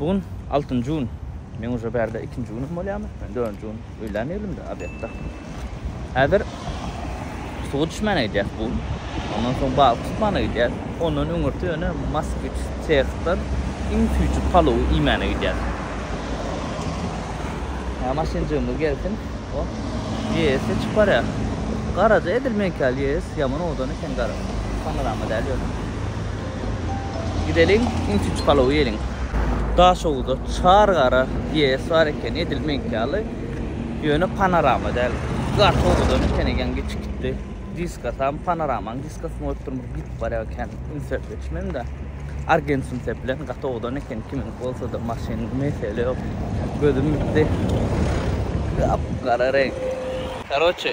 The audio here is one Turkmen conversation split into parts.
Bu gün altynjy gün. Men uje bärde ikinji günüm bolýamy? Men dördünji gün öýlän elimde, obedda. Häzir suwa düşmäne gidýäs bu gün. Ondan soň balyk tutmana gidýäs. Ondan öňürti ýöne Moskwiç sehdan iň süýji palowy iýmäne gidýäs. Hä, maşynjygymyz gelsin. O, ýeýesde çykyp barýar. Garaja edil meňki ýaly ýeýes, ýaman owadan eken gara. Panorama däl ýöne. Gideliň iň üçünji palowy iýeliň. Daşoguzda çar gara GS bar ekeni edil meňki ýaly ýöne panorama däl gaty owadan eken eýýäm geçip gitdi diskasam panoramanyň diskasyny goýup durmyş gidip barýar kän ünsüp geçmemdä argent ünsüp bilen gaty owadan eken kimiňki bolsada maşyn mesele ýok gözüm ýitdi gap gara reňk karoçe.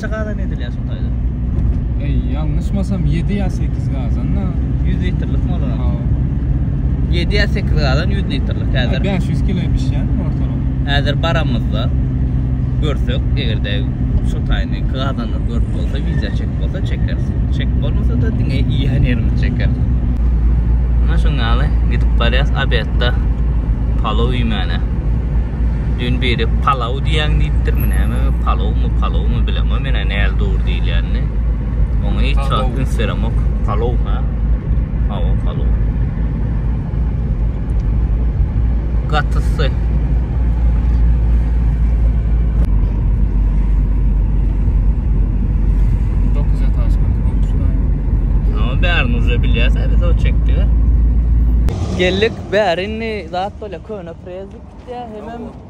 Kaçça gazan edilýär şo taýda? Eý, ýalňyşmasam ýedi ýa sekiz gazan-da. Ýüz litrlikmi olar? Hawa. Ýedi ýa sekiz gazan ýüz litrlik häzir. Bäş ýüz kile bişýärmi ortalama? Häzir baramyzda görsek, eger-de şo taýyny gazanlar görüp bolsa, wideo çekip bolsa çekeris. Çekip bolmasa-da diňe iýen ýerimizi çekeris. Ine şoň ýaly gidip barýas obedda palaw iýmäne. Düýn biri palaw Palaw diýýäň diýipdir, bu näme? Palawmy, palawmy bilemok men-ä näl dogry diýilýänini. Oňa hiç wagt üns beremok. Palaw, hä? Hawa, palaw. Gaty sy. bärini uza bilýärse biz o çekdi. Geldik bärini zat bolýar, köne prezdik gitýär, hemem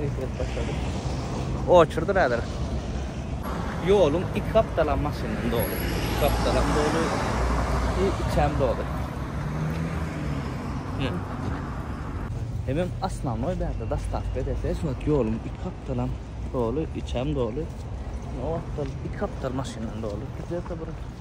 Eýsirip başlady. Oçurdyr häzir. Ýoluň iki gapdalam maşyndan doly. Iki gapdalam doly. I içem doly. Hemem asnanoý bärde dastavka edese şu wagt ýoluň iki gapdalam doly, içem doly. Ýa wagtal iki gapdal maşyndan doly. Gidýärse bir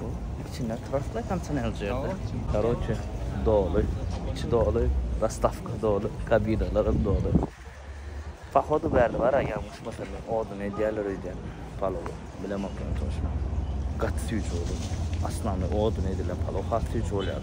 Bu içinde trostlay tam çyn elji ýerde. Karoçe doly. İçi doly. Rastavka doly. Kabinalarym doly. Pahodu bärde bar a ýalňyşmasam men odun edýärler öýdýän palowy. Bilemok ýöne toçno. Gaty süýji bolýar. Aslanly odun edilen palow has süýji bolýar.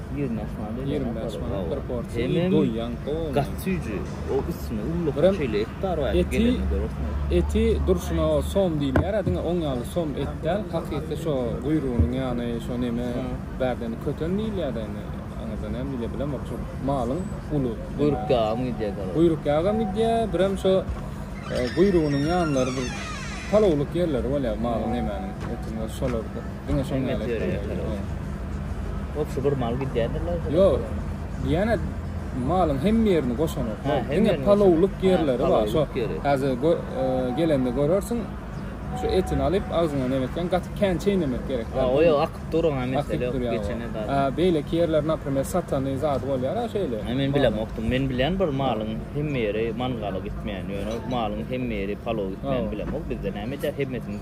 20 bäş manat öýdýän. 20 bäş manat bir porsiýa iý doýýaň gowy. Gaty süýji. O üstüne ulluk şeýle et bar waý. Eti eti durşuna o som diýilýär a diňe oň ýaly som et däl hakyky şo guýrugynyň ýany şo neme bärden köten diýilýär de indi aňyrda näme diýilýär bilemok şo malyň uly guýruk ýagam gidýär gara. Guýruk ýagam gidýär birem şo guýrugynyň ýanlary bir palowlyk ýerleri bolýar malyň nemäniň etiň şolardyr. Diňe şoň ýaly etdiler. Hop şu bir mal gidýärdiler. Ýok. Diýene malyň hem ýerini goşanok. Diňe palowlyk ýerleri bar. Şo häzir e, gelende görersiň. Şu etini alyp agzyňa nemetgen gaty kän çeýnemek gerek. Ha, o ýok, akyp duruň ha mesele ýok geçene bar. Ha, beýle ýerler, naprimýer, satany zady bolýar ha şeýle. Ha, men bilem okdum. Men bilen bir malyň hem ýeri mangala gitmeýän, ýöne malyň hem ýeri palow gitmeýän bilem ok. Bizde näme edýär? Hemmesini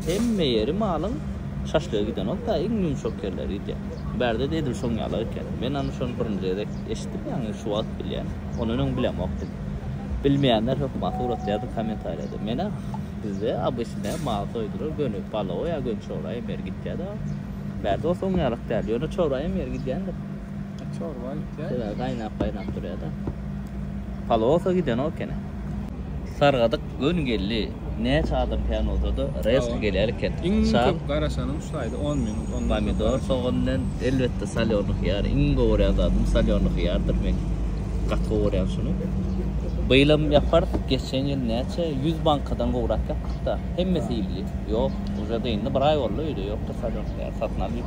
Hemme ýeri malyň şaşlyga giden bolsa, iň ýumşak ýerleri gidýär. Bärde-de edil şoň ýaly eken. Men ony şony birinji gezek eşitdim, ýagny şu wagt bilýän. Ondan öň bilemokdym. Bilmeýänler hökman suratda ýa-da kommentariýada. Men-ä bizde obyçnä mal soýdular, göni palowa ýa göni çowraýam ýer gidýär-de. Bärde bolsa oňňaýrak däl, ýöne çowraýam ýer gidýändir. Çorba gitýär. Şeýle gaýnap-gaýnap durýar-da. Palosa gidenok ekeni. Sargadyk göni geldi. Näçe adam kän bolsa-da, rezki gelýär eken. Iň köp garaşanym şu aýda on minut, ondan köp. Pomidor, sogan bilen elbetde solýorny hyýar. Iň gowy görýän zadym solýorny hyýardyr men. Gaty gowy görýän şuny. Byýlam ýaparys, geçen ýyl näçe ýüz bankadan gowrak ýapdyk-da. Hemmesi iýildi. Ýok, uje-de indi bir aý boldy öýde ýokdur solýorny hyýar. Satyn alyp.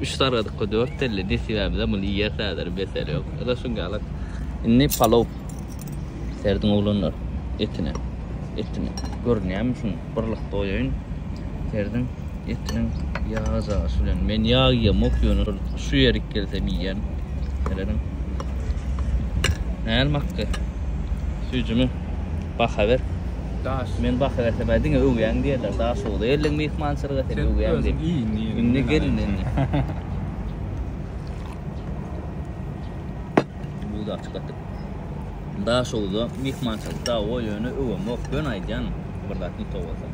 Üç sargadykka dört telli nesibämizem muny iýeris häzir besel ýok. Ýa-da şuň ýalak. Indi palow serdiň oglanlar etine. Etine. Görünýärmi şuň birlik doýaýyn. Serdiň etiniň ýagy jaýyşy bilen. Men ýag iýemok ýöne şu ýerik gelsem iýýän. Serediň. Näl makdy? Süýjümi? Baha ber. Daş. Men baha bersem hä diňe öwýäň diýerler. Daşoguz geldiň myhmançylyga sen öwýäň diýip. Indi gelin indi. Buda açyk atyp. Daşoguzda myhmançylyk da o ýöne öwemok. Ýöne aýdýan bir zat nito bolsa.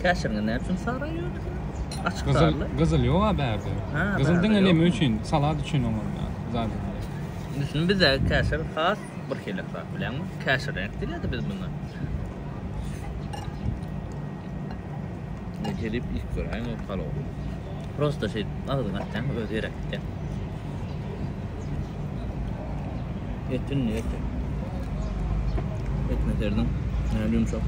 Käşirine näme üçin sara ýöne? Açyk Gyzyl, garly. gyzyl ýok a bärde. Ha, Gyzyl bärde diňe ýok. näme üçin? Salat üçin oňa zat. Düşündim bizde käşir has Bir helek zat bilenmi? Käşir reňk dilädi biz munda. Ne gelip ilk göräýiň o palow. Prosta şey agzyň atýaň öz ýere gitýä. Etin ne eti? Etme serdiň. Ne yumşak.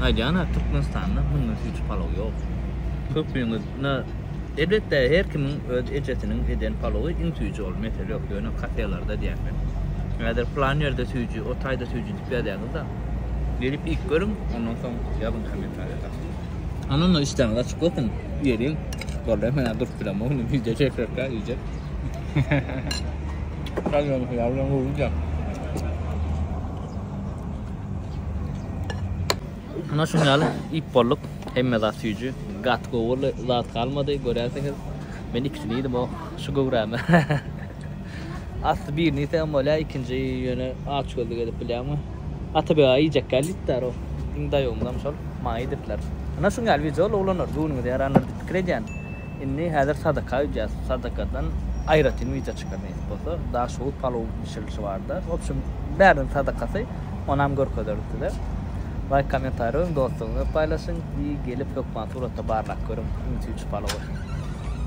Aýdýana Türkmenistanda bundan hiç palow ýok. Köpüňiz Ynha, elbetde, her kimiň öz ejesiniň eden palowy iň süýji, ol mesele ýok. Ýöne kafelerde diýýän men. Häzir plan ýerde süýji, o taýda süýji diýip ýazýaňyz-da. Gelip iýip görüň, ondan soň ýazyň kommentariýada. Ondan-da işdäňiz açyk bolsun, iýeliň. Boldy, men-ä durup bilemok indi, wideo çekjekkä iýjek. Şalyýany hyýar bilen gowudyr. Muna şuň ýaly iýip bolduk. Hemme zat süýji. Gaty gowy zat galmady. Görýänsiňiz. Men ikisini iýdim o şu göwrämi. Asly birini iýsegem bolýar, ikinji ýöne aç gözlük edip bilýäňmi? Atabeg aga iýjek däl diýipdir o. Iň daýawymyzam şol. Maňa iýdirdiler. Muna şuň ýaly wideo ulanarys, göwnüňize ýarandyr diýip pikir edýän. Indi häzir sadaka öýdýäs. Sadakadan aýratyn wideo çykar nesip bolsa. Daşoguz palowyň bişirilişi barada. Wobşem bäriniň sadakasy. Onam görkezeris size. Laýk kommentariý goýuň dostlaryňyza paýlaşyň. Gelip hökman suratda barlap görüň ünsi üç palowy.